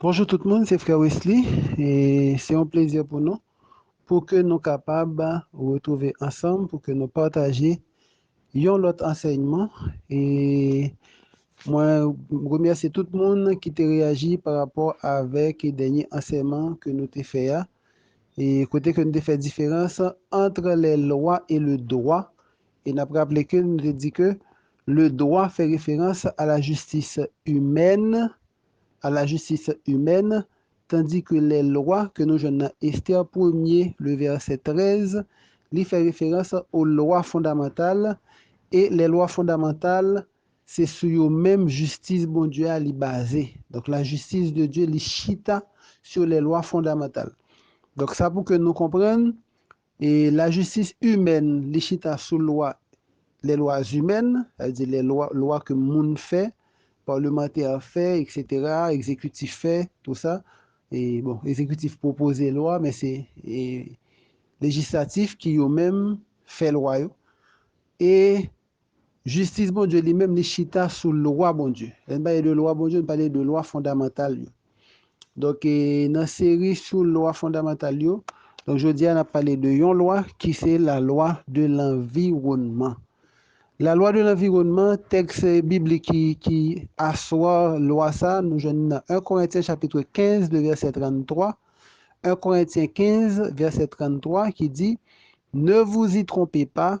Bonjou tout moun, se frè Wesly e se yon plezi pou nou pou ke nou kapab retrouve ansanm pou ke nou pataje yon lòt ansèyman e mwen remèsye tout moun ki te reyaji pa rapò avèk dènye ansèyman ke nou te fè a e kote ke nou te fè diferans antre le lwa e le dwa E n ap raple ke nou te di ke le dwa fè referans a la jistis imèn, à la justice humaine, tandi ke lè lwa ke nou jwenn nan Esther premye, le vèsè 13, li fè referans o lwa fondamantal, e lè lwa fondamantal, se sou yo menm jistis Bondye a li baze. Donk la jistis de Dye li chita sou lè lwa fondamantal. Donk sa pou ke nou konprann, E lajistis imèn li chita sou lwa les lois humaines, sa vle di lè lwa, lwa ke moun fè, palmantè fè, eksetera, ekzekitif fè, tou sa, e bon, ekzekitif pwopoze lwa, men se e lejislatif ki yo menm fè lwa yo, e Jistis Bondye li menm li chita sou lwa Bondye. Lè n pale de lwa Bondye, n pale de lwa fondamantal yo. Donk nan seri sou lwa fondamantal yo, donk jodi a n ap pale de yon lwa ki se lalwa de lanviwònman. Lalwa de lanviwònman, tèks biblik ki ki aswa lwa sa a nou jwenn li nan 1 Korentyen chapitre 15 le vèsè 33, 1 Korentyen 15 vèsè 33 ki di, Ne vous y trompez pas,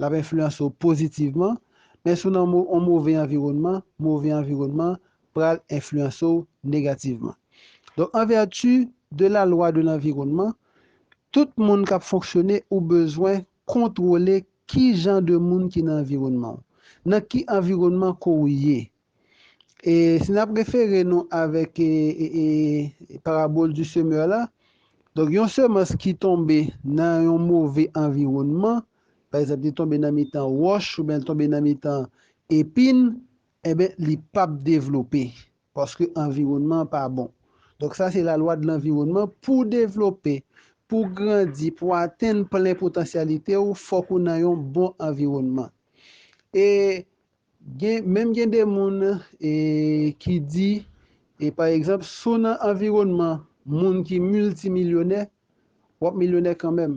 L ap enfliyanse w pozitivman, men si w nan yon move anviwònman, move anviwònman an pral enfliyanse w negativman. Donk, an vèti de la lwa de lanviwònman, tout moun k ap fonksyone ou bezwen kontwole ki jan de moun ki nan anviwònman w, nan ki anviwònman ke w ye. E si n ap refere nou avèk parabòl di semè la, donk yon semans ki tonbe nan yon move anviwònman, pa egzanp li tonbe nan mitan wòch oubyen li tonbe nan mitan epin, enben li p ap devlope paske anviwònman an pa bon. Donk sa se lalwa de lanviwònman, pou w devlope, pou w grandi, pou w atenn plen potansyalite w, fòk ou nan yon bon anviwònman. E Gen menm gen de moun e ki di e pa egzanp si w nan anviwònman moun ki miltimilyonè w ap milyonè kanmenm.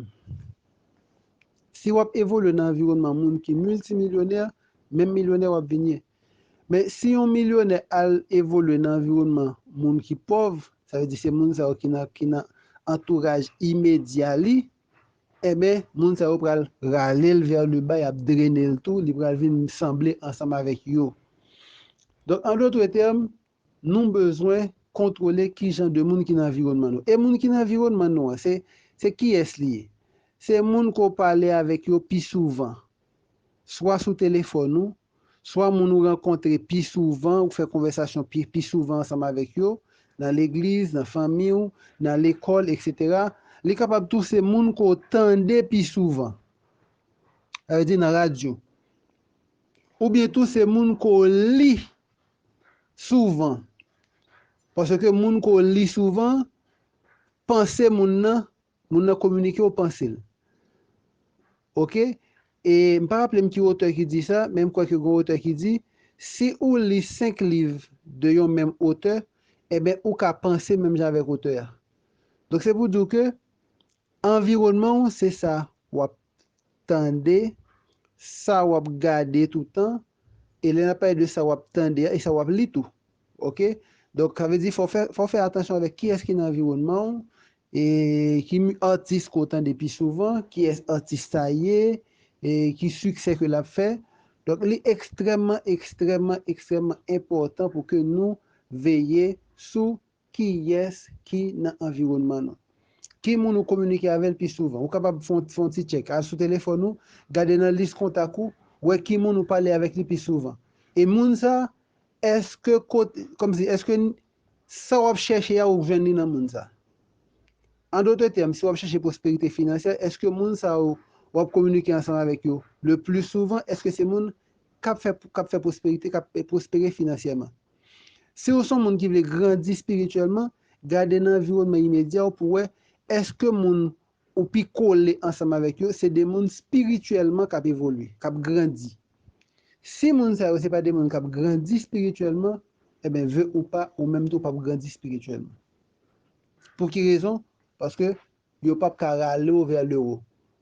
Si w ap evolye nan anviwònman moun ki miltimilyonè menm milyonè w ap vin ye. Men si yon milyonè al evolye nan anviwònman moun ki pòv sa vle di se moun sa yo ki nan ki nan antouraj imedya li Enben, moun sa yo pral rale l vè Leba, y ap drene l tou, li pral vin sanble ansanm avèk yo. Donk, andotrètèm, nou bezwen kontwole ki jan de moun ki nan anviwònman nou. E moun ki nan anviwònman nou an, se kiyès li ye? Se moun ke w pale avèk yo pi souvan, swa sou telefòn ou, swa moun ou rankontre pi souvan, ou fè konvèsasyon pi pi souvan ansanm avèk yo, nan legliz, nan fanmi w, nan lekòl, eksetera. Li kapab tou se moun ke w tande pi souvan, sa vle di nan radyo. Oubyen tou se moun ke w li souvan, paske moun ke w li souvan, panse moun nan Moun nan kominike ou panse l. Ok e m pa raple m ki otè ki di sa men m kwè ke gon otè ki di si ou li 5 liv de yon menm otè eben ou ka panse menm jan avèk otè a donk se pou di w ke anviwònman w se sa w ap tande, sa w ap gade toutan, e lè n ap pale de sa w ap tande a, e sa w ap li tou. Ok? Donk, sa vle di fò w fè, fò w fè atansyon avèk kiyès ki nan anviwònman w, e ki atis ke w tande pi souvan, kiyès atis sa ye, e ki siksè ke l ap fè. Donk, li ekstrèmman, ekstrèmman, ekstrèmman enpòtan pou ke nou veye sou Kiyès ki nan anviwònman nou? Ki moun ou kominike avè l pi souvan? Ou kapab fè yon ti tchèk. Al sou telefòn ou, gade nan lis kontak ou, wè ki moun ou pale avèk li pi souvan. E moun sa a, èske kot, kòmsi, èske sa w ap chèche a ou jwenn li nan moun sa a? An dote tèm, si w ap chèche pwosperite finansyè, èske moun sa yo w ap kominike ansanm avèk yo le pli souvan, èske se moun k ap fè, k ap fè pwosperite, k ap pwospere finansyèman? Si ou s on moun ki vle grandi espirityèlman, gade nan anviwònman imedya w pou wè èske moun ou pi kole ansanm avèk yo se de moun espirityèlman k ap evolye, k ap grandi. Si moun sa yo se pa de moun k ap grandi espirityèlman, enben, ve ou pa, ou menm tou w pap grandi espirityèlman. Pou ki rezon? Paske Yo pap ka rale w vè lewo.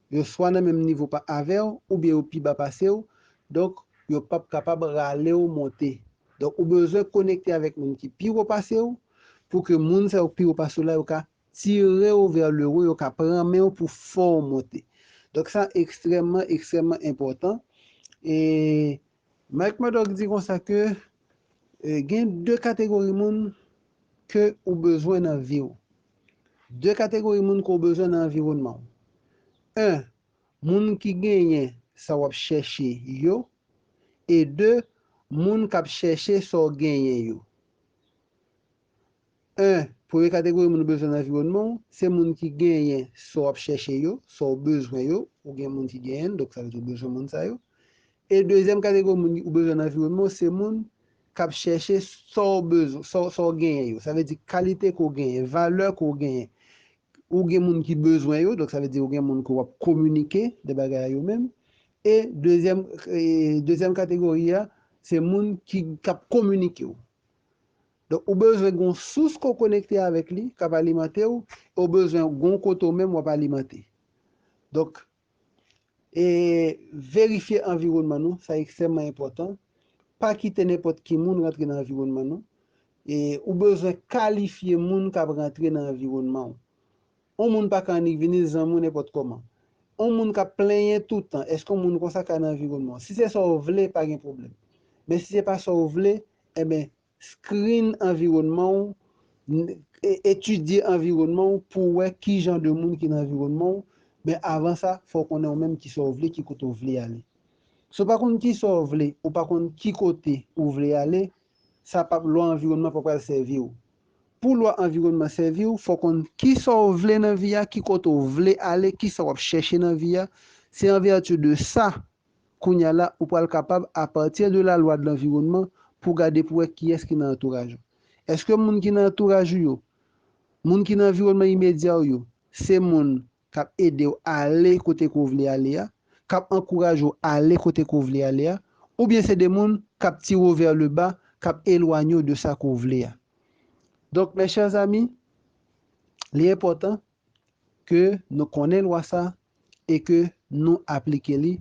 Yo swa nan menm nivo pa avè w oubyen yo pi ba pase w, donk yo pap kapab rale w monte. Donk ou bezwen konekte avèk moun ki pi wo pase w pou ke moun sa yo ki pi wo pase w la yo ka tire w vè lewo, yo ka pran men w pou fè w monte. Donk sa ekstrèmman, ekstrèmman enpòtan e Mike Murdock di konsa ke gen 2 kategori moun ke ou bezwen nan vi w. 2 kategori moun ke w bezwen nan anviwònman w. 1, Moun ki genyen sa w ap chèche yo e 2, Moun k ap chèche sa w genyen yo. 1, Premye kategori moun ou bezwen nan anviwònman ou, se moun ki genyen sa w ap chèche yo, sa w bezwen yo, ou gen moun ki genyen l, donk sa vle di ou bezwen moun sa yo. E dezyèm kategori moun ou bezwen nan anviwònman ou, se moun k ap chèche sa w bezwen, sa w genyen yo. Sa vle di kalite ke w genyen, valè ke w genyen. Ou gen moun ki bezwen yo, donk sa vle di ou gen moun ke w ap kominike de bagay a yo menm. E dezyèm, dezyèm kategori a, se moun ki, k ap kominike w. Donk ou bezwen gen yon sous ke w konekte avèk li k ap alimante w e w bezwen gen yon kote ou menm w ap alimante. Donk e verifye anviwònman nou, sa ekstrèmman enpòtan. Pa kite nenpòt ki moun rantre nan anviwònman nou e ou bezwen kalifye moun k ap rantre nan anviwònman w. Yon moun pa ka annik vini zanmi w nenpòt kòman. Yon moun k ap plenyen toutan, èske yon moun konsa ka nan anviwònman w? Si se sa w vle, pa gen pwoblèm. Men si se pa sa w vle, enben Screen anviwònman w, n, Etidye anviwònman w pou w wè ki jan de moun ki nan anviwònman w, men avan sa, fò w konnen ou menm ki sa w vle, ki kote w vle ale. Si w pa konn ki sa w vle, ou pa konn ki kote ou vle ale, sa pap lwa anviwònman pa pral sèvi w. Pou lwa anviwònman sèvi w, fò w konn ki sa w vle nan vi a, ki kote w vle ale, ki sa w ap chèche nan vi a, se an vèti de sa Kounya la, ou pral kapab, apati de lalwa de lanviwònman, pou gade pou wè kiyès ki nan antouraj ou. Èske moun ki nan antouraj ou yo, moun ki nan anviwònman imedya ou yo, se moun k ap ede w ale kote ke w vle ale a, k ap ankouraje w ale kote ke w vle ale a, oubyen se de moun k ap tire w vè le ba, k ap elwanye w de sa ke w vle a. Donk, mes chers amis, li enpòtan ke nou konnen lwa sa e ke nou aplike li,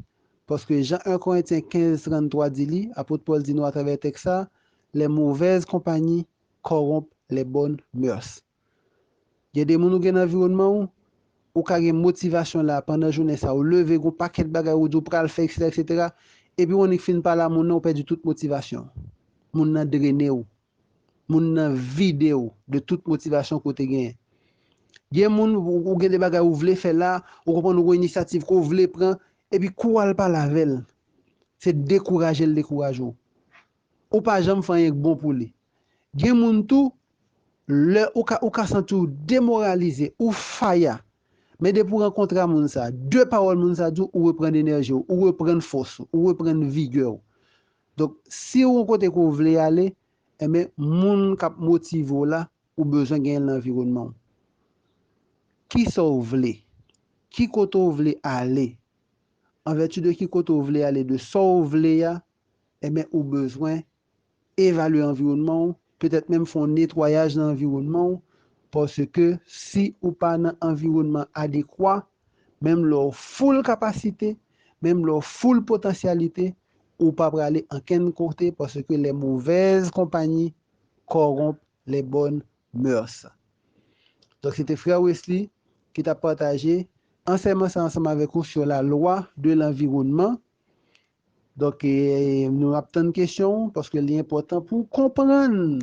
paske jan 1 Korentyen 15, 33 di li, Apot Pòl di nou atravè tèks sa, Les mauvaises compagnies corrompent les bonnes mœurs. Gen de moun ou gen nan anviwònman ou, ou ka gen motivasyon la pandan jounen sa, ou leve gen yon pakèt bagay ou di ou pral fè eksetera eksetera, epi ou annik fin pale a moun nan ou pèdi tout motivasyon, moun nan drene ou. Moun nan vide w de tout motivasyon ke w te genyen. Gen moun, ou gen de bagay ou vle fè la, ou konprann ou gen yon inisyativ ke w vle pran, epi kou w al pale avè l, se dekouraje l dekouraje w. Ou pa janm fè anyen k bon pou li. Gen moun tou, lè ou ka ou ka santi w demoralize, ou faya, men depi w rankontre a moun sa, de pawòl moun sa di w, ou reprann enèji w, ou reprann fòs ou, ou reprann vigè w. Donk siw gon kote ke w vle ale enben moun kap motive w la ou bezwen genyen l nan anviwònman w. Kisa w vle? Ki kote w vle ale? An vèti de ki kote w vle ale de sa w vle a enben ou bezwen evalye anviwònman w petèt menm fon netwayaj nan anviwònman w paske si ou pa nan anviwònman adekwa menm lè w full kapasite, menm lè w full potansyalite ou pa prale ankenn kote paske les mauvaises compagnies corrompent les bonnes mœurs. Donk se te frè Wesley ki tap pataje ansèyman sa ansanm avèk ou sur la loi de l'environnement Donk, nou ap tann kesyon ou, paske li enpòtan pou w konprann.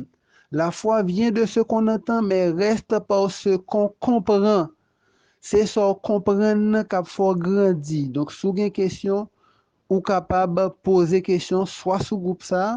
La fwa vyen de se kon antan, men rèst par se kon konpran. Se sa w konprann nan k ap fè w grandi. Donk, si w gen kesyon, ou kapab poze kesyon swa sou gwoup sa a,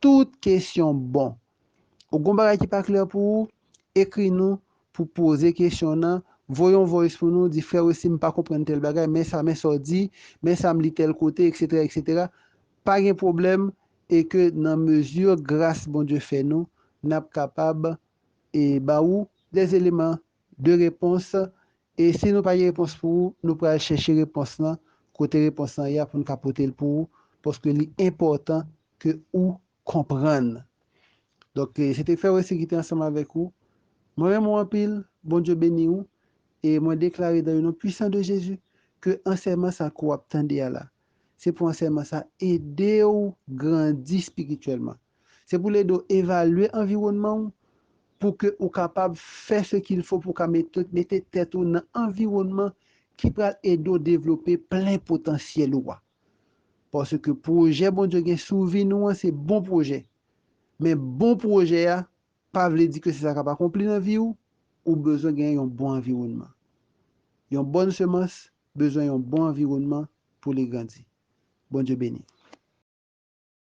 Tout kesyon bon. Ou gon bagay ki pa klè pou ou, ekri nou pou poze kesyon nan, voye yon voice pou nou, di frè Wesly m pa konprann tèl bagay, men sa men sa w di, men sa m li tèl kote etc etc pa gen pwoblèm e ke nan mezi gras Bondye fè nou n ap kapab e ba ou des éléments de réponse E si nou pa gen repons pou ou, nou pral chèche repons lan kote repons lan ye a pou n ka pote l pou ou, paske li enpòtan ke ou konprann. Donk, se te Frè Wesly ki te ansanm avèk ou. Mwen renmen w anpil, Bondye beni ou, e mwen deklare dan le non pwisan de Jezi ke ansèyman sa ke w ap tande a la, Se pou ansèyman sa a ede w grandi spirityèlman. Se pou l ede w evalye anviwònman w pou ke ou kapab fè se kil fo pou w ka mete tèt ou nan anviwònman ki pral ede w devlope plen potansyèl ou a. Paske pwojè Bondye gen sou vi nou an se bon pwojè. Men bon pwojè a pa vle di ke se sa k ap akonpli nan vi w, ou bezwen gen yon bon anviwònman. Yon bòn semans bezwen yon bon anviwònman pou li grandi. Bondye beni.